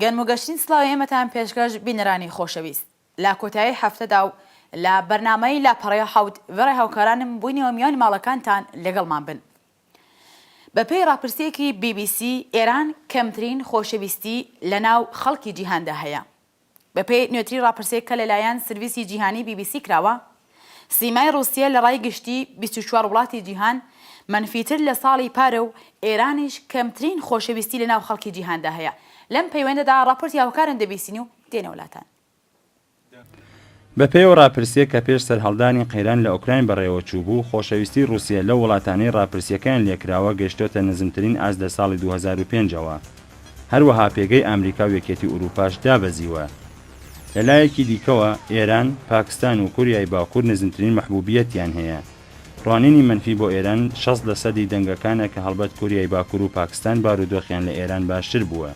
گەرم و گەشتین سلاوی ئێمەتان پێشکەش بینەرانی خۆشەویست لە کۆتایی هەفتەدا و لە بەرنمەی لاپەڕەیە حەوت وێڕێ هاوکارانم بووینەوە میانی ماڵەکانتان لەگەڵمان بن بەپێی ڕاپرسییەکی بی بی سی، ئێران کەمترین خۆشەویستی لەناو خەڵکی جیهاندا هەیە. بەپێی نوێترین ڕاپرسێک کە لەلایەن سرویسی جیهانی بی بی سی کراوە، سیمای ڕووسیە لە ڕای گشتی بیست و چوار وڵاتی جیهان مەنفیتر لە ساڵی پارە و ئێرانیش کەمترین خۆشەویستی لەناو خەڵکی جیهاندا هەیە. لەم پەیوەندەدا ڕاپۆرتی هاوکارم دەبیسین و دێنە وڵاتان. بەپێیەوە ڕاپرسییەک کە پێش سەرهەڵدانی قەیران لە ئۆکراین بەڕێوەچووبوو، خۆشەویستی ڕووسیە لەو وڵاتانەی ڕاپرسییەکەیان لێکراوە گەیشتۆتە نزمترین ئاست لە ساڵی دوو هەزار و پێنج ەوە. هەروەها پێگەی ئامریکا و یەکێتی ئورووپاش دابەزیوە. لە لایەکی دیکەوە، ئێران، پاکستان و کوریای باکوور نزمترین مەحبووبییەتیان هەیە. ڕوانینی مەنفی بۆ ئێران شەست لە سەدی دەنگەکانە کە هەڵبەت کوریای باکوور و پاکستان بارودۆخیان لە ئێران باشتر بووە.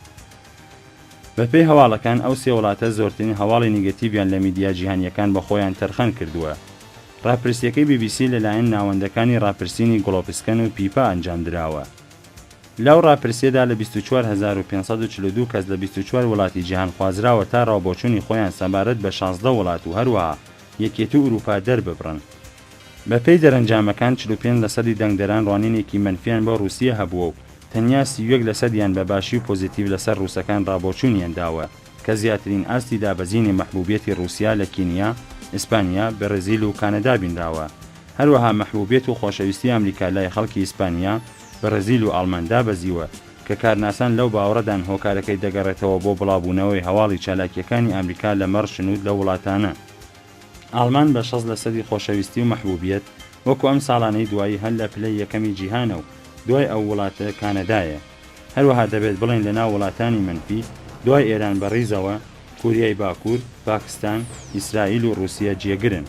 بەپێی هەواڵەکان ئەو سێ وڵاتە زۆرترین هەواڵی نیگەتیڤیان لە میدیا جیهانییەکان بە خۆیان تەرخان کردووە. ڕاپرسییەکەی بی بی سی لەلایەن ناوەندەکانی ڕاپرسینی گڵۆپسکەن و پیپا ئەنجام دراوە. لەو ڕاپرسییەدا لە بیست و چوار هەزار و پێنج سەد و چل و دوو کەس لە بیست و چوار وڵاتی جیهان خوازراوە تا ڕاوبۆچوونی خۆیان سەبارەت بە شازدە وڵات و هەروەها یەکێتی ئورووپا دەرببڕن. بەپێی دەرەنجامەکان چل و پێنج لەسەدی دەنگدەران ڕوانینێکی مەنفییان بۆ ڕووسیە هەبووە و تەنیا سی و یەک لەسەدیان بە باشی و پۆزیتیڤ لەسەر ڕووسەکان ڕابۆچوونیان داوە کە زیاترین ئاستی دابەزینی مەحبووبیەتی ڕووسیا لە کینیا، ئیسپانیا، بەرزیل و کانەدا بینراوە. هەروەها مەحبووبیەت و خۆشەویستی ئەمریکا لای خەڵکی ئیسپانیا، بەرزیل و ئاڵمان دابەزیوە کە کارناسان لەو باوەڕەدان هۆکارەکەی دەگەڕێتەوە بۆ بڵاوبوونەوەی هەواڵی چالاکییەکانی ئامریکا لەمەڕ شنوود لەو وڵاتانە. ئاڵمان بە شەست لەسەدی خۆشەویستی و مەحبوبیەت وەکو ئەم ساڵانەی دوایی هەر لە پلەی یەکەمی جیهانە و دوای ئەو وڵاتە کانەدایە. هەروەها دەبێت بڵێین لە ناو وڵاتانی مەنفی دوای ئێران بە ڕیزەوە کوریای باکور، پاکستان، ئیسرائیل و ڕوسیە جێگرن.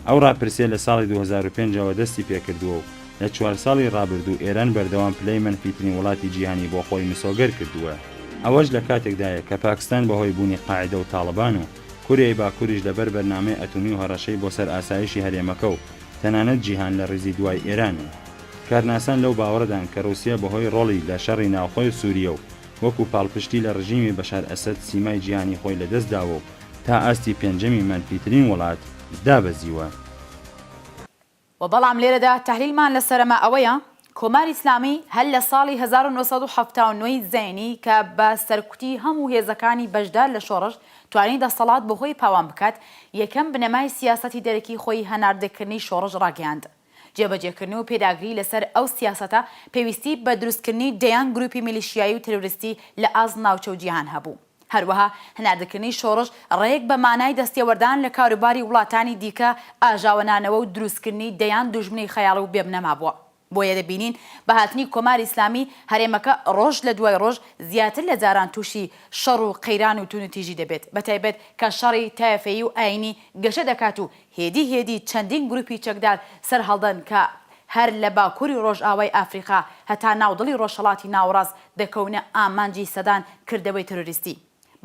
ئەو ڕاپرسیە لە ساڵی دوو هەزار و پێنج ەوە دەستی پێکردووە و لە چوار ساڵی ڕابردوو ئێران بەردەوام پلەی مەنفیترین وڵاتی جیهانی بۆ خۆی مسۆگەر کردووە. ئەوەش لە کاتێکدایە کە پاکستان بە هۆی بوونی قاعیدە و تاڵبان و. کۆریای باکوریش لەبەر بەرنامەی ئەتومی و هەڕەشەی بۆ سەر ئاسایشی هەرێمەکە و تەنانەت جیهان لە ڕیزی دوای ئێرانن. کارناسان لەو باوەڕەدان کە ڕووسیە بەهۆی ڕۆڵی لە شەڕی ناوخۆی سووریە و وەکو پاڵپشتی لە ڕژیمی بەشار ئەسەد سیمای جیهانی خۆی لەدەست داوە و تا ئاستی پێنجەمی مەنفیترین وڵات دابەزیوە. وە بەڵام لێرەدا تەحلیلمان لە سەرەما ئەوەیە کۆماری ئیسلامی هەر لە ساڵی هەزار و نۆ سەد و حەفتا و نۆ ی زەینی کە بە سەرکوتی هەموو هێزەکانی بەشدار لە شۆڕش توانی دەسەڵات بۆ خۆی پاوان بکات یەکەم بنەمای سیاسەتی دەرەکی خۆی هەناردەکردنی شۆڕش ڕاگەیاند جێبەجێکردن و پێداگری لەسەر ئەو سیاسەتە پێویستی بە دروستکردنی دەیان گروپی میلیشیایی و ترۆریستی لە ئاست ناوچە و جیهان هەبوو. هەروەها هەناردەکردنی شۆڕش ڕێک بە مانای دەستێوەردان لە کاروباری وڵاتانی دیکە، ئاژاوەنانەوە و دروستکردنی دەیان دوژمنی خەیاڵی و بێبنەما بووە. بۆیە دەبینین بە هاتنی کۆماری ئیسلامی، هەرێمەکە ڕۆژ لە دوای ڕۆژ زیاتر لە جاران تووشی شەڕ و قەیران و تووندوتیژی دەبێت، بەتایبەت کە شەڕی تایەفەیی و ئایینی گەشە دەکات و هێدی هێدی چەندین گروپی چەکدار سەرهەڵدەن کە هەر لە باکوری ڕۆژئاوای ئەفریقا هەتا ناو دڵی ڕۆژهەڵاتی ناوەڕاست دەکەونە ئامانجی سەدان کردەوەی ترۆریستی.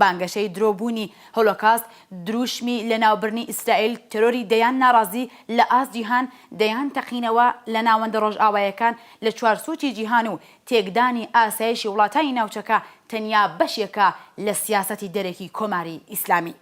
بانگەشەی درۆ بوونی هۆلۆکاست دروشمی لەناوبرنی ئیسرائیل، ترۆری دەیان ناڕازی لە ئاست جیهان، دەیان تەقینەوە لە ناوەندە ڕۆژئاوایەکان لە چوار سوچی جیهان و تێکدانی ئاسایشی وڵاتانی ناوچەکە تەنیا بەشێکە لە سیاسەتی دەرەکی کۆماری ئیسلامی.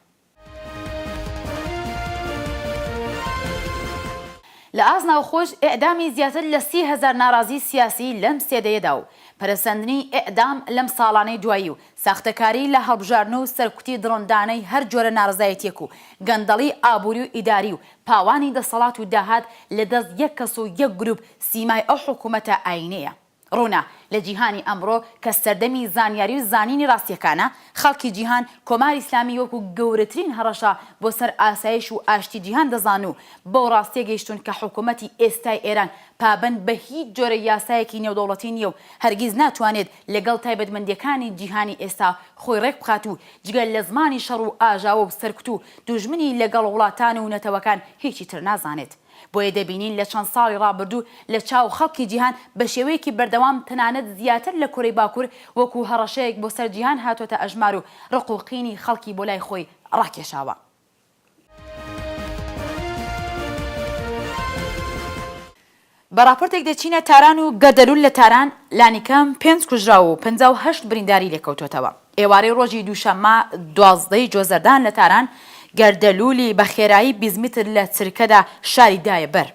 لە ئاست ناوخۆش ئێعدامی زیاتر لە سی هەزار ناڕازی سیاسی لەم سێ دەیەدا و پەرەسەندنی ئێعدام لەم ساڵانەی دوایی و ساختەکاری لە هەڵبژاردن و سەرکوتی دڕندانەی هەر جۆرە ناڕەزایەتیەک و گەندەڵی ئابوری و ئیداری و پاوانی دەسەڵات و داهات لە دەست یەک کەس و یەک گروپ سیمای ئەو حکومەتە ئاینیەیە. ڕوونە لە جیهانی ئەمڕۆ کە سەردەمی زانیاری و زانینی ڕاستییەکانە، خەڵکی جیهان کۆماری ئیسلامی وەکو گەورەترین هەڕەشە بۆ سەر ئاسایش و ئاشتی جیهان دەزان و بەو ڕاستییە گەیشتوون کە حکوومەتی ئێستای ئێران پابەند بە هیچ جۆرە یاسایەکی نێودەوڵەتی نییە و هەرگیز ناتوانێت لەگەڵ تایبەتمەندییەکانی جیهانی ئێستا خۆی ڕێک بخات و جگە لە زمانی شەڕ و ئاژاوە و سەرکوت و دوژمنی لەگەڵ وڵاتان و نەتەوەکان هیچی تر نازانێت. بۆیە دەبینین لە چەند ساڵی ڕابردوو لە چاو خەڵکی جیهان بە شێوەیەکی بەردەوام تەنانەت زیاتر لە کۆرەی باکوور وەکوو هەڕەشەیەک بۆ سەر جیهان هاتووەتە ئەژمار و ڕق و قینی خەڵکی بۆ لای خۆی ڕاکێشاوە. بە ڕاپۆرتێک دەچینە تاران و گەردەلول لە تاران لانیکەم پێنج کوژراو و پەنجا و هەشت برینداری لێکەوتووەتەوە. ئێوارەی ڕۆژی دووشەممە دوازدە ی جۆزەردان لە تاران، گەردەلوولی بە خێرایی بیست متر لە چرکەدا شاری دایە بەر،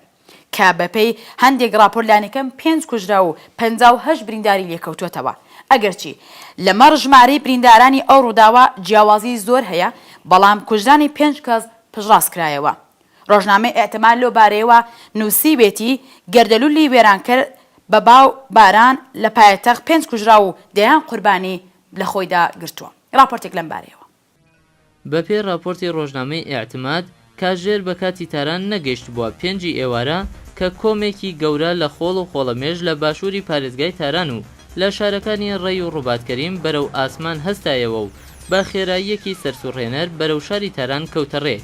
کە بەپێی هەندێک ڕاپۆرت لانیکەم پێنج کوژراو و پەنجا و هەشت برینداری لێکەوتووەتەوە، ئەگەرچی لەمەڕ ژمارەی بریندارانی ئەو ڕووداوە جیاوازیی زۆر هەیە، بەڵام کوژرانی پێنج کەس پشتڕاستکرایەوە. ڕۆژنامەی ئیتمار لەو بارەیەوە نووسیوێتی، گەردەلوولی وێرانکەر بە با و باران لە پایەتەخت پێنج کوژراو و دەیان قوربانی لە خۆیدا گرتووە. ڕاپۆرتێک لەم بارەیەوە. بەپێی ڕاپۆرتی ڕۆژنامەی ئیتماد، کاژێر بە کاتی تاران نەگەیشتبووە پێنجی ئێوارە کە کۆمێکی گەورە لە خۆڵ و خۆڵەمێش لە باشووری پارێزگای تاران و لە شارەکانی ڕەی و ڕوبات کەریم بەرەو ئاسمان هەستایەوە و بە خێراییەکی سەرسوڕهێنەر بەرەو شاری تاران کەوتە ڕێ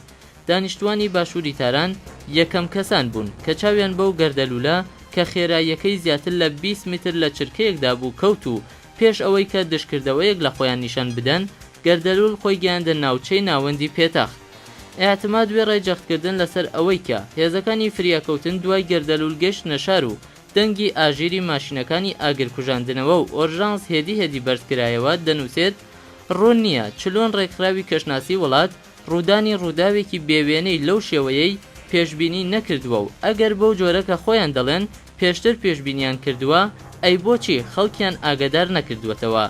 دانیشتوانی باشوری تاران یەکەم کەسان بوون کە چاویان بەو گەردەلولە کە خێراییەکەی زیاتر لە بیست متر لە چرکەیەکدا بوو کەوت و پێش ئەوەی کە دژکردەوەیەک لە خۆیان نیشان بدەن گەردەلول خۆی گەیاندە ناوچەی ناوەندی پێتەخت ئیعتماد وێڕای جەختکردن لەسەر ئەوەی کە هێزەکانی فریاکەوتن دوای گەردەلول گەشتنە شار و دەنگی ئاژیری ماشینەکانی ئاگرکوژاندنەوە و ئۆرژانس هێدی هێدی بەرزکرایەوە دەنوسێت ڕوون نییە چلۆن ڕێکخراوی کەشناسی وڵات ڕوودانی ڕووداوێکی بێ وێنەی لەو شێوەیەی پێشبینی نەکردووە و ئەگەر بەو جۆرە کە خۆیان دەڵێن پێشتر پێشبینیان کردووە، ئەی بۆچی خەڵکیان ئاگەدار نەکردووەتەوە؟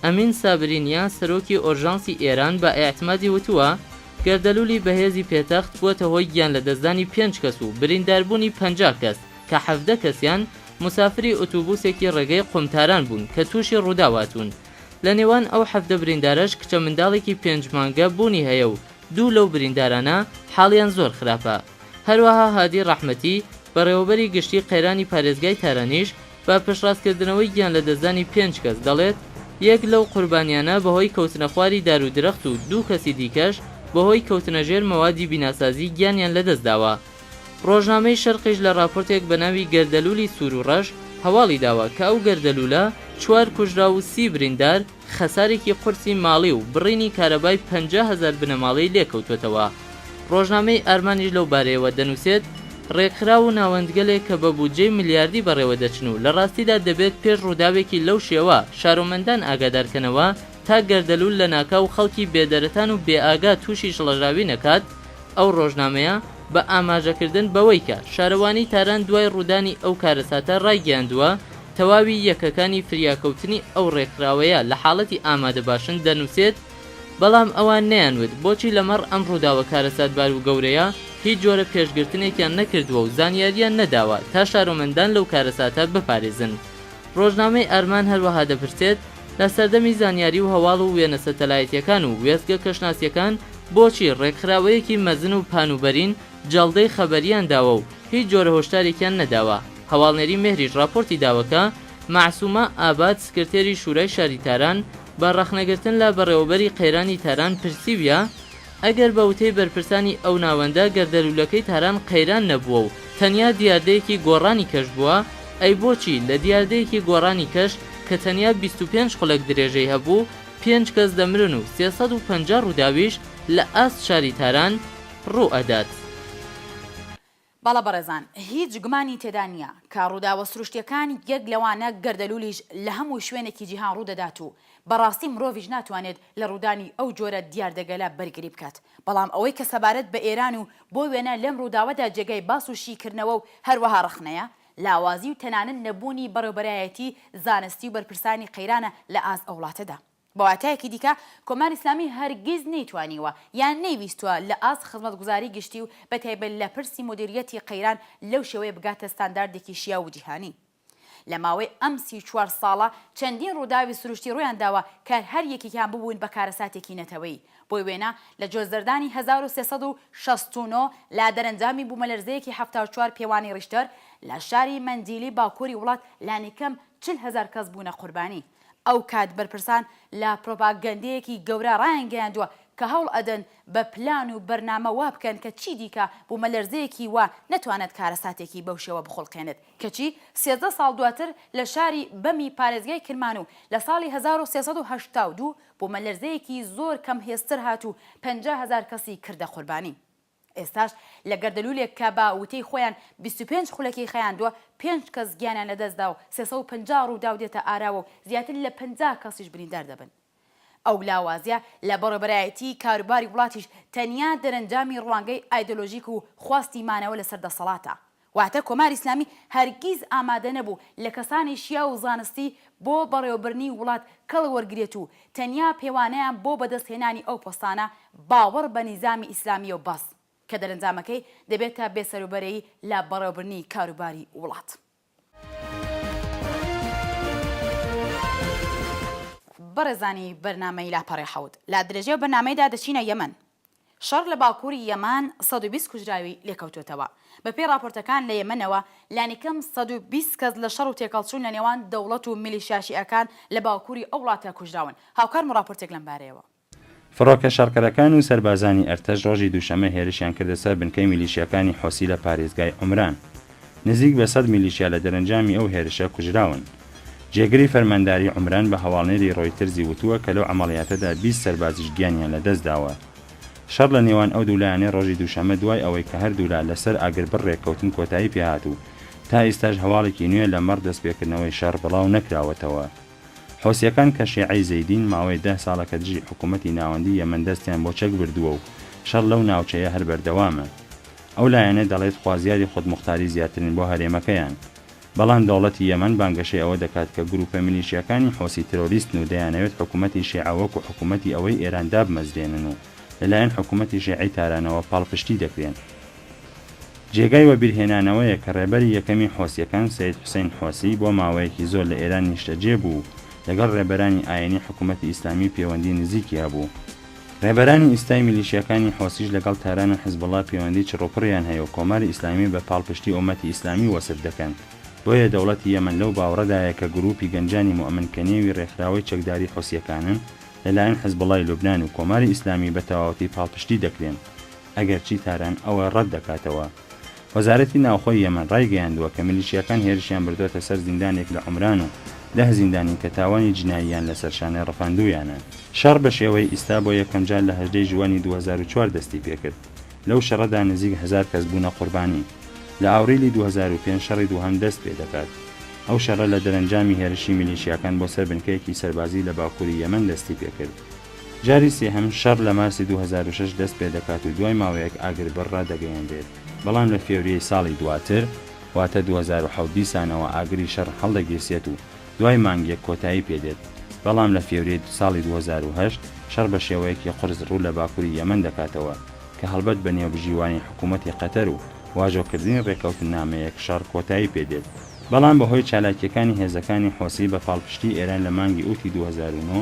ئەمین سابرینیا سەرۆکی ئۆرژانسی ئێران بە ئیعتمادی وتووە، گەردەلوولی بەهێزی پێتەخت بووەتە هۆی گیانلەدەستدانی پێنج کەس و برینداربوونی پەنجا کەس کە حەڤدە کەسیان موسافری ئوتوبووسێکی ڕێگەی قوم تاران بوون کە تووشی ڕووداو هاتوون. لە نێوان ئەو حەڤدە بریندارەش کچە منداڵێکی پێنج مانگە بوونی هەیە و دوو لەو بریندارانە حاڵیان زۆر خراپە. هەروەها هادی ڕەحمەتی، بەڕێوەبەری گشتی قەیرانی پارێزگای تارانیش بە پشتڕاستکردنەوەی گیانلەدەستدانی پێنج کەس دەڵێت، یەک لەو قوربانیانە بەهۆی کەوتنەخواری دار و درەخت و دوو کەسی دیکەش بەهۆی کەوتنەژێر مەوادی بیناسازی گیانیان لەدەستداوە. ڕۆژنامەی شەرقیش لە ڕاپۆرتێک بە ناوی گەردەلوولی سوور و ڕەش هەواڵی داوە کە ئەو گەردەلوولە چوار کوژراو و سی بریندار خەسارێکی قورسی ماڵی و بڕینی کارەبای پەنجا هەزار بنەماڵەی لێ کەوتووەتەوە. ڕۆژنامەی ئارمانیش لەو بارەیەوە دەنووسێت، ڕێکخراو و ناوەندگەلێک کە بە بودجەی ملیاردی بەڕێوە دەچن و لە ڕاستیدا دەبێت پێش ڕووداوێکی لەو شێوە شارۆمەندان ئاگادار کەنەوە تا گەردەلوول لەناکاو خەڵکی بێدەرەتان و بێ ئاگا تووشی شڵەژاوی نەکات، ئەو ڕۆژنامەیە بە ئاماژەکردن بەوەی کە شارەوانیی تاران دوای ڕوودانی ئەو کارەساتە ڕایگەیاندووە، تەواوی یەکەکانی فریاکەوتنی ئەو ڕێکخراوەیە لە حاڵەتی ئامادەباشن دەنووسێت، بەڵام ئەوان نەیانوت بۆچی لەمەڕ ئەم ڕووداوە کارەساتبار و گەورەیە هیچ جۆرە پێشگرتنێکیان نەکردووە و زانیارییان نەداوە تا شارۆمەندان لەو کارەساتە بپارێزن. ڕۆژنامەی ئارمان هەروەها دەپرسێت، لە سەردەمی زانیاری و هەواڵ و وێنە سەتەلایتیەکان و وێستگە کەشناسیەکان بۆچی ڕێکخراوەیەکی مەزن و پان و بەرین جەڵدەی خەبەریان داوە و هیچ جۆرە هۆشدارێکیان نەداوە؟ هەواڵنێری مێهریش ڕاپۆرتی داوە کە مەعسومە ئاباد سکرتێری شورای شاری تاران بە ڕەخنەگرتن لە بەڕێوەبەری قەیرانی تاران پرسیویە ئەگەر بە وتەی بەرپرسانی ئەو ناوەندە گەردەلوولەکەی تاران قەیران نەبووە و تەنیا دیاردەیەکی گۆڕانی کەش بووە، ئەی بۆچی لە دیاردەیەکی گۆڕانی کەش کە تەنیا بیست و پێنج خولەک درێژەی هەبوو، پێنج کەس دەمرن و سێ سەد و پەنجا ڕووداویش لە ئاست شاری تاران ڕوو ئەدات؟ بەڵێ بەڕێزان، هیچ گومانی تێدا نییە، کە ڕووداوە سروشتییەکان، یەک لەوانە گەردەلوولیش، لە هەموو شوێنێکی جیهان ڕوو دەدات و بە ڕاستی مرۆڤیش ناتوانێت لە ڕوودانی ئەو جۆرە دیاردەگەلە بەرگری بکات، بەڵام ئەوەی کە سەبارەت بە ئێران و بۆ وێنە لەم ڕووداوەدا جێگای باس و شیکردنەوە و هەروەها ڕەخنەیە، لاوازی و تەنانەت نەبوونی بەڕێوبەرایەتی زانستی و بەرپرسانی قەیرانە لە ئاست ئەو وڵاتەدا. بە واتایەکی دیکە کۆماری ئیسلامی هەرگیز نەیتوانیوە یان نەیویستووە لە ئاست خزمەتگوزاری گشتی و بە تایبەت لە پرسی مودیرییەتی قەیران لەو شێوەیە بگاتە ستانداردێکی شیاو و جیهانی. لە ماوەی ئەم سی و چوار ساڵە چەندین ڕووداوی سروشتی ڕوویان داوە کە هەر یەکێکیان ببوون بە کارەساتێکی نەتەوەیی. بۆ وێنە لە جۆزەردانی هەزار و سێ سەد و شەست و نۆ لە دەرەنجامی بوومەلەرزەیەکی حەفتا و چوار پێوانی ڕیشتەر لە شاری مەندیلی باکووری وڵات لانیکەم چل هەزار کەس بوونە قوربانی. ئەو کات بەرپرسان لە پرۆپاگەندەیەکی گەورە ڕایانگەیاندووە کە هەوڵ ئەدەن بە پلان و بەرنامە وا بکەن کە چیدیکە بوومەلەرزەیەکی وا نەتوانێت کارەساتێکی بەو شێوە بخوڵقێنێت کەچی سێزدە ساڵ دواتر لە شاری بەمی پارێزگای کرمان و لە ساڵی هەزار و سێ سەد و هەشتا و دوو بوومەلەرزەیەکی زۆر کەم هێزتر هات و پەنجا هەزار کەسی کردە قوربانی. ئێستاش لە گەردەلوولێک کە بە وتەی خۆیان بیست و پێنج خولەکی خایاندووە، پێنج کەس گیانیان لەدەستدا و سێ سەد و پەنجا رووداو دێتە ئاراوە و زیاتر لە پەنجا کەسیش بریندار دەبن. ئەو لاوازییە لە بەڕێوەبەرایەتیی کاروباری وڵاتیش تەنیا دەرەنجامی روانگەی ئایدۆلۆژیک و خواستی مانەوە لەسەر دەسەڵاتە. واتە کۆماری ئیسلامی هەرگیز ئامادە نەبوو لە کەسانی شیاو و زانستی بۆ بەڕێوەبردنی وڵات کەڵ وەرگرێت و تەنیا پێوانەیان بۆ بەدەست هێنانی ئەو پۆستانە باوەڕ بە نیزامی ئیسلامییە و بەس کە دەرەنجامەکەی دەبێتە بێ سەروبەرەیی لە بەڕێوەبردنی کاروباری وڵات. بەڕێزانی بەرنامەی لاپەڕەی حەوت، لە درێژەی ئەو بەرنامەیەدا دەچینە یەمەن. شەڕ لە باکووری یەمان سەد و بیست کوژراوی لێکەوتووەتەوە. بەپێی ڕاپۆرتەکان لە یەمەنەوە لانیکەم سەد و بیست کەس لە شەڕ و تێکەڵچوون لە نێوان دەوڵەت و میلیشیا شیعەکان لە باکووری ئەو وڵاتە کوژراون. هاوکارم ڕاپۆرتێک لەم بارەیەوە. فڕۆکە شەڕکەرەکان و سەربازانی ئەرتەش ڕۆژی دووشەممە هێرشیان کردە سەر بنکەی میلیشیاکانی حوسی لە پارێزگای عومران. نزیک بە سەد میلیشیا لە دەرەنجامی ئەو هێرشە کوژراون. جێگری فەرمانداری عومران بە هەواڵنێری ڕۆیترزی وتووە کە لەو عەمەڵیاتەدا بیست سەربازیش گیانیان لەدەستداوە. شەڕ لە نێوان ئەو دوو لایەنەی ڕۆژی دووشەممە دوای ئەوەی کە هەردوو لا لەسەر ئاگربڕ ڕێککەوتن کۆتایی پێهات و تا ئیستاش هەواڵێکی نوێ لەمەڕ دەستپێکردنەوەی شەڕ بڵاو نەکراوەتەوە. حوسییەکان کە شێعەی زەیدین ماوەی دە ساڵە کە دژی حکوومەتی ناوەندیی یەمەن دەستیان بۆ چەک بردووە و شەڕ لەو ناوچەیە هەر بەردەوامە. ئەو لایەنە دەڵێت خوازیاری خودموختاری زیاترن بۆ هەرێمەکەیان، بەڵام دەوڵەتی یەمەن بانگەشەی ئەوە دەکات کە گرووپە میلیشیاکانی حوسی ترۆریستن و دەیانەوێت حکومەتی شیعە وەکو حکومەتی ئەوەی ئێران دابمەزرێنن و لەلایەن حکومەتی شیعەی تارانەوە پاڵپشتی دەکرێن. جێگای وەبیرهێنانەوەیە کە ڕێبەری یەکەمی حوسیەکان سەید حوسەین حوسی بۆ ماوەیەکی زۆر لە ئێران نیشتەجێ بوو و لەگەڵ ڕێبەرانی ئایینی حکومەتی ئیسلامی پێوەندی نزیکی هەبوو، ڕێبەرانی ئیستای میلیشیاکانی حوسیش لەگەڵ تاران و حزبوڵا پێوەندی چڕوپڕیان هەیە و کۆماری ئیسلامی بە پاڵپشتی ئۆمەتی ئیسلامی وەسف دەکەن، بۆیە دەوڵەتی یەمەن لەو باوڕەدایە کە گرووپی گەنجانی مۆمن کە نێوی ڕێکخراوەی چەکداری حوسییەکانن لە لایەن حزبوڵای لوبنان و کۆماری ئیسلامی بە تەواوەتی پاڵپشتی دەکرێن ئەگەرچی تاران ئەوە ڕەت دەکاتەوە. وەزارەتی ناوخۆی یەمەن ڕایگەیاندووە کە میلیشیاکان هێرشیان بردۆتە سەر زیندانێک لە عومران و دە زیندانین کە تاوانی جناییان لەسەر شانێ ڕفاندوویانە. شەڕ بە شێوەی ئیستا بۆ یەکەمجار لە هەژدە ی ژووەنی دوو هەزار و چوار دەستی پێکرد، لەو شەڕەدا نزیک هەزار کەس بوونە قوربانی. لە ئاوریلی دوو هەزار و پێنج شەڕی دووهەم دەست پێ دەکات. ئەو شەڕە لە دەرەنجامی هێرشی میلیشیاکان بۆ سەر بنکەیەکی سەربازی لە باکووری یەمەن دەستی پێکرد. جاری سێهەم شەڕ لە مارسی دوو هەزار و شەش دەست پێ دەکات و دوای ماوەیەک ئاگربڕ ڕادەگەیەنرێت، بەڵام لە فێوریەی ساڵی دواتر واتە دوو هەزار و حەوت دیسانەوە ئاگری شەڕ هەڵدەگیرسێت و دوای مانگێک کۆتایی پێ دێت، بەڵام لە فێوریەی ساڵی دوو هەزار و هەشت شەڕ بە شێوەیەکی قورس ڕوو لە باکوری یەمەن دەکاتەوە کە هەڵبەت بە نێوبژیوانی حکوومەتی قەتەر و واژۆکردنی ڕێککەوتننامەیەک شەڕ کۆتایی پێ دێت، بەڵام بە هۆی چالاکییەکانی هێزەکانی حۆسی بە پاڵپشتی ئێران لە مانگی ئوتی دوو هەزار و نۆ،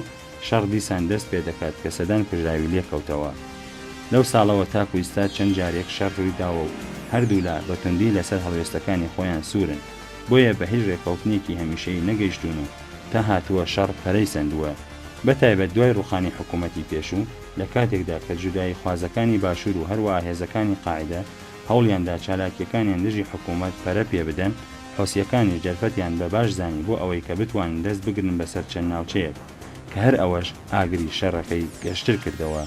شەڕ دیسان دەست پێ دەکات کە سەدان کوژراوی لێ کەوتەوە. لەو ساڵەوە تاکو ئیستا چەند جارێک شەڕ رووی داوە و هەردوو لا بە توندی لە سەر هەڵوێستەکانی خۆیان سوورن، بۆیە بە هیچ رێککەوتنێکی هەمیشەیی نەگەیشتوون و تا هاتووە شەڕ پەرەی سەندووە، بە تایبەت دوای رووخانی حکوومەتی پێشوو، لە کاتێکدا کە جوداییخوازەکانی باشوور و هەروەها هێزەکانی قاعیدە هەوڵیان دا چالاکییەکانیان دژی حکوومەت پەرە پێ بدەن، حوسییەکانیش دەرفەتیان بە باش زانی بۆ ئەوەی کە بتوانن دەست بگرن بەسەر چەند ناوچەیەک، کە هەر ئەوەش ئاگری شەڕەکەی گەشتر کردەوە.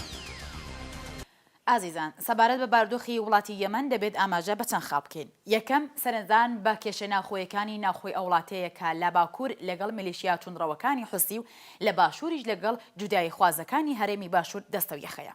ئازیزان، سەبارەت بە باردۆخی وڵاتی یەمەن دەبێت ئاماژە بە چەند خاڵ بکەین. یەکەم، سەرنجدان بە کێشە ناوخۆیەکانی ناوخۆی ئەو وڵاتەیە کە لە باکوور لەگەڵ میلیشیا توندڕەوەکانی حوسی و لە باشووریش لەگەڵ جوداییخوازەکانی هەرێمی باشوور دەستەویەخەیە.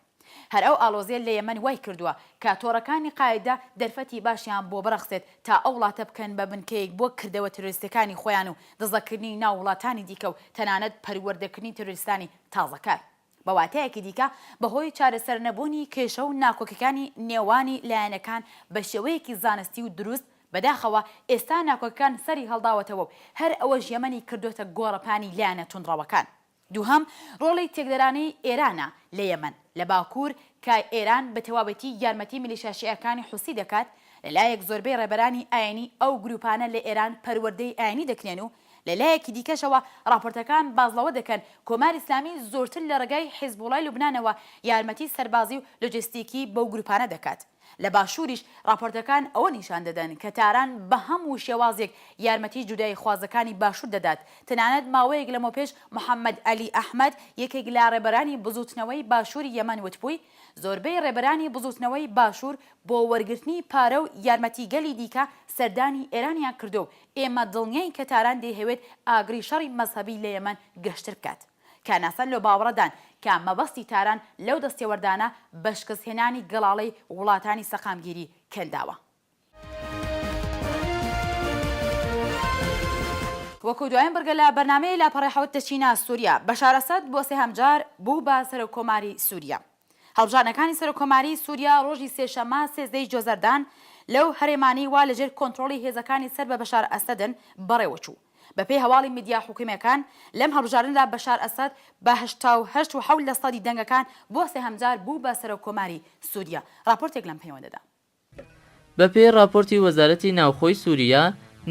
هەر ئەو ئاڵۆزیە لە یەمەن وای کردوە کە تۆڕەکانی قاعیدە دەرفەتی باشیان بۆ بڕەخسێت تا ئەو وڵاتە بکەن بە بنکەیەک بۆ کردەوە ترۆریستەکانی خۆیان و دزەکردنی ناو وڵاتانی دیکە و تەنانەت پەروەردەکردنی ترۆریستانی تازەکار. بە واتایەکی دیکە بە هۆی چارەسەر نەبوونی کێشە و ناکۆکیەکانی نێوانی لایەنەکان بە شێوەیەکی زانستی و دروست، بەداخەوە ئێستا ناکۆکیەکان سەری هەڵداوەتەوە و هەر ئەوەش یەمەنی کردۆتە گۆڕەپانی لایەنە توندڕەوەکان. دووهەم، ڕۆڵی تێکدەرانی ئێرانە لە یەمەن، لە باکوور، کە ئێران بە تەواوەتی یارمەتی میلیشا شیعەکانی حوسی دەکات، لە لایەک زۆربەی ڕێبەرانی ئاینی ئەو گرووپانە لە ئێران پەروەردەی ئاینی دەکرێن و لە لایەکی دیکەشەوە ڕاپۆرتەکان باس لەوە دەکەن کۆماری ئیسلامی زۆرتر لە ڕێگای حیزبوڵای لوبنانەوە یارمەتی سەربازی و لۆجستیکی بەو گرووپانە دەکات. لە باشووریش ڕاپۆرتەکان ئەوە نیشان دەدەن کە تاران بە هەموو شێوازێک یارمەتی جوداییخوازەکانی باشوور دەدات، تەنانەت ماوەیەک لەمەوپێش محەممەد عەلی ئەحمەد یەکێک لە ڕێبەرانی بزووتنەوەی باشووری یەمەن وتبووی، زۆربەی ڕێبەرانی بزووتنەوەی باشوور بۆ وەرگرتنی پارە و یارمەتی گەلی دیکە سەردانی ئێرانیان کردووە و ئێمە دڵنیاین کە تاران دەیهەوێت ئاگری شەڕی مەزهەبی لە یەمەن گەشتر بکات. کە ناسەن لەو باوەڕەدان کە مەبەستی تاران لەو دەستێوەردانە بە شکستهێنانی گەڵاڵەی وڵاتانی سەقامگیری کەنداوە. وەکو دوایین بڕگە لە بەرنامەی لاپەڕەی حەوت دەچینە سوریا، بەشار ئەسەد بۆ سێهەم جار بوو بە سەرۆککۆماری سوریا. هەڵبژاردنەکانی سەرۆککۆماریی سووریا ڕۆژی سێشەممە سێزدە ی جۆزەردان لەو هەرێمانەی وا لەژێر کۆنتڕۆڵی هێزەکانی سەر بە بەشار ئەسەدن بەڕێوە چوو. بەپێی هەواڵی میدیا حکوومییەکان، لەم هەڵبژاردنەدا بەشار ئەسەد بە هەشتا و هەشت و حەوت لەسەدی دەنگەکان بۆ سێهەمجار بوو بە سەرۆککۆماری سووریا. ڕاپۆرتێک لەم پەیوەندەدا. بەپێی ڕاپۆرتی وەزارەتی ناوخۆی سووریا،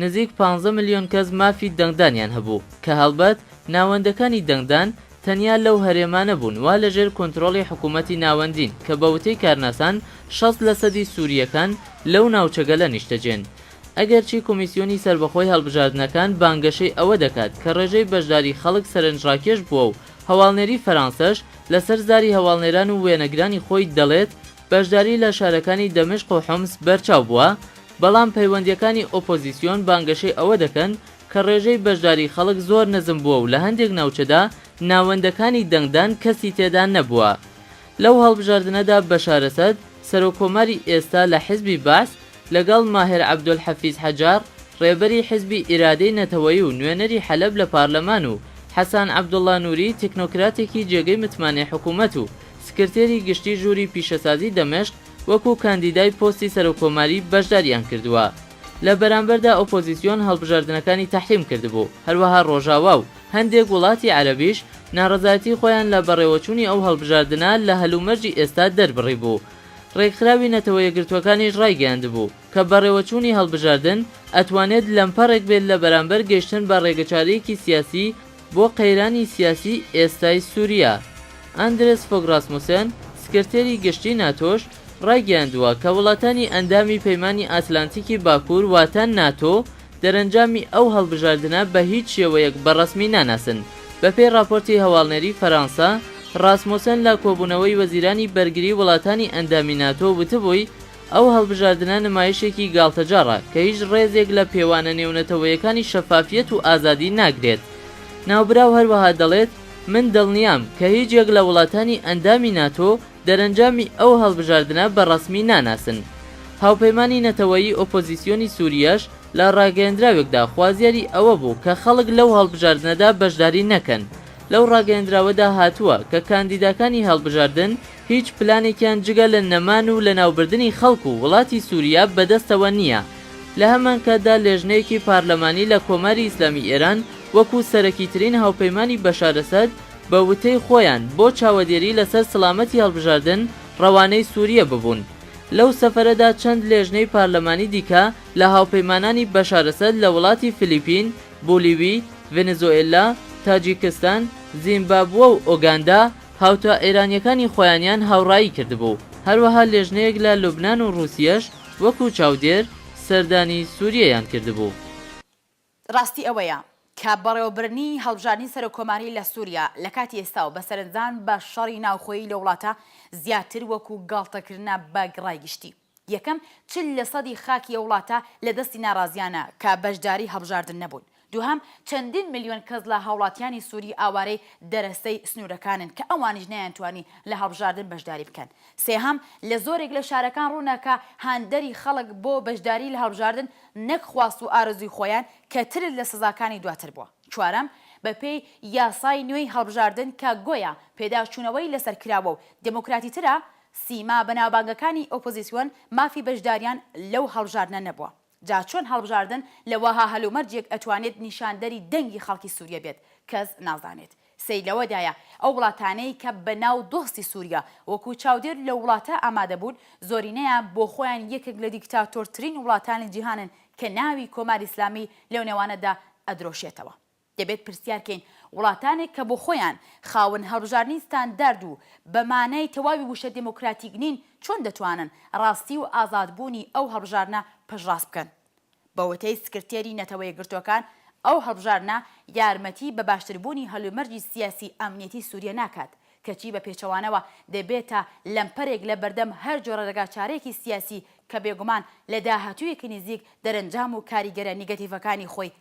نزیک پانزە ملیۆن کەس مافی دەنگدانیان هەبوو، کە هەڵبەت ناوەندەکانی دەنگدان تەنیا لەو هەرێمانە بوون وا لەژێر کۆنترۆڵی حکوومەتی ناوەندین کە بە وتەی کارناسان شەست لەسەدی سوورییەکان لەو ناوچەگەلە نیشتەجێن. ئەگەرچی کۆمیسیۆنی سەربەخۆی هەڵبژاردنەکان بانگەشەی ئەوە دەکات کە ڕێژەی بەشداری خەڵک سەرنجڕاکێش بووە و هەواڵنێری فەرانسەش لەسەر زاری هەواڵنێران و وێنەگرانی خۆی دەڵێت، بەشداری لە شارەکانی دەمشق و حومس بەرچاو بووە، بەڵام پەیوەندییەکانی ئۆپۆزیسیۆن بانگەشەی ئەوە دەکەن کە ڕێژەی بەشداری خەڵک زۆر نزم بووە و لە هەندێک ناوچەدا ناوەندەکانی دەنگدان کەسی تێدا نەبووە. لەو هەڵبژاردنەدا بەشار ئەسەد، سەرۆککۆماری ئێستا لە حزبی بەعس، لەگەڵ ماهر عەبدولحەفیز حەجاڕ، ڕێبەری حزبی ئیرادەی نەتەوەیی و نوێنەری حەلەب لە پارلەمان و حەسان عەبدوڵڵا نوری تکنۆکراتێکی جێگەی متمانەی حکوومەت و سکرتێری گشتی ژووری پیشەسازی دەمشق وەکو کاندیدای پۆستی سەرۆککۆماری بەشداریان کردووە لە بەرامبەردا ئۆپۆزیسیۆن هەڵبژاردنەکانی تەحریم کردبوو هەروەها ڕۆژاوا و هەندێک وڵاتی عەرەبیش ناڕەزایەتی خۆیان لە بەڕێوەچوونی ئەو هەڵبژاردنە لە هەلومەرجی ئێستا دەربڕیبوو ڕێکخراوی نەتەوە یەکگرتووەکانیش ڕایگەیاندبوو کە بەڕێوەچوونی هەڵبژاردن ئەتوانێت لەمپەڕێک بێت لە بەرامبەر گەیشتن بە ڕێگەچارەیەکی سیاسی بۆ قەیرانی سیاسی ئێستای سوریا. ئاندرێس فۆگ راسموسێن، سکرتێری گشتی ناتۆش رایگەیاندووە کە وڵاتانی ئەندامی پەیمانی ئاتلانتیکی باکوور واتە ناتۆ دەرەنجامی ئەو هەڵبژاردنە بە هیچ شێوەیەک بە رەسمی ناناسن. بەپێی راپۆرتی هەواڵنێری فەرانسە، راسموسێن لە کۆبوونەوەی وەزیرانی بەرگری وڵاتانی ئەندامی ناتۆ وتبووی، ئەو هەڵبژاردنە نمایشێکی گاڵتەجاڕە کە هیچ ڕێزێک لە پێوانە نێونەتەوەیەکانی شەفافیەت و ئازادی ناگرێت. ناوبراو هەروەها دەڵێت، من دڵنیام کە هیچ یەک لە وڵاتانی ئەندامی ناتۆ دەرەنجامی ئەو هەڵبژاردنە بە ڕەسمی ناناسن. هاوپەیمانی نەتەوەیی ئۆپۆزیسیۆنی سووریەش لە ڕاگەیەندراوێکدا خوازیاری ئەوە بوو کە خەڵک لەو هەڵبژاردنەدا بەشداری نەکەن. لەو ڕاگەیەندراوەدا هاتووە کە کاندیداکانی هەڵبژاردن، هیچ پلانێکیان جگە لە نەمان و لەناوبردنی خەڵک و وڵاتی سوریا بەدەستەوە نییە. لە هەمانکاتدا لێژنەیەکی پارلەمانی لە کۆماری ئیسلامی ئێران وەکوو سەرەکیترین هاوپەیمانی بەشار ئەسەد بە وتەی خۆیان بۆ چاوەدێری لەسەر سڵامەتی هەڵبژاردن ڕەوانەی سوریە ببوون. لەو سەفەرەدا چەند لێژنەی پارلەمانی دیکە لە هاوپەیمانانی بەشار ئەسەد لە وڵاتی فلیپین، بولیوی، ڤێنزۆئێلا، تاجیکستان، زیمبابوە و ئۆگاندا، هاوتا ئێرانییەکانی خۆیانیان هاوڕایی کردبوو، هەروەها لێژنەیەک لە لوبنان و ڕووسیەش وەکوو چاودێر سەردانی سووریەیان کردبوو. ڕاستی ئەوەیە کە بەڕێوەبردنی هەڵبژاردنی سەرۆککۆماری لە سووریە لە کاتی ئێستا و بە سەرنجدان بە شەڕی ناوخۆیی لە وڵاتە زیاتر وەکوو گاڵتەکردنە بە گڕای گشتی. یەکەم، چل لە سەدی خاکی ئەو وڵاتە لە دەستی ناڕازییانە کە بەشداری هەڵبژاردن نەبوون. دووهەم، چەندین ملیۆن کەس لە هاوڵاتیانی سووری ئاوارەی دەرەستەی سنوورەکانن کە ئەوانیش نەیانتوانی لە هەڵبژاردن بەشداری بکەن. سێهەم، لە زۆرێک لە شارەکان ڕوونە کە هاندەری خەڵک بۆ بەشداری لە هەڵبژاردن نەک خواست و ئارەزووی خۆیان کە ترس لە سزاکانی دواتر بووە. چوارەم، بە پێی یاسای نوێی هەڵبژاردن کە گۆیا پێداچوونەوەی لەسەر کراوە و دێمۆکراتیترە، سیما بەناوبانگەکانی ئۆپۆزیسیۆن مافی بەشداریان لەو هەڵبژاردنە نەبووە، جا چۆن هەڵبژاردن لە وەها هەلومەرجێک ئەتوانێت نیشاندەری دەنگی خەڵکی سووریە بێت، کەس نازانێت. سەیر لەوەدایە ئەو وڵاتانەی کە بە ناو دۆستی سووریە وەکوو چاودێر لەو وڵاتە ئامادە بوون، زۆرینەیان بۆ خۆیان یەکێک لە دیکتاتۆرترین وڵاتانی جیهانن کە ناوی کۆماری ئیسلامی لەو نێوانەدا ئەدرۆشێتەوە. دەبێت پرسیار کەین وڵاتانێک کە بۆ خۆیان خاوەن هەڵبژاردنی ستاندارد و بە مانای تەواوی وشە دێمۆکراتیک نین چۆن دەتوانن ڕاستی و ئازاد بوونی ئەو هەڵبژاردنە پشتڕاست بکەن؟ بە وتەی سکرتێری نەتەوە یەکگرتووەکان ئەو هەڵبژاردنە یارمەتی بە باشتر بوونی هەلومەرجی سیاسی ئەمنیەتی سووریە ناکات کەچی بە پێچەوانەوە دەبێتە لەمپەرێک لە بەردەم هەر جۆرە ڕێگا چارەیەکی سیاسی کە بێگومان لە داهاتوویەکی نزیک دەرەنجام و کاریگەرە نیگەتیڤەکانی خۆی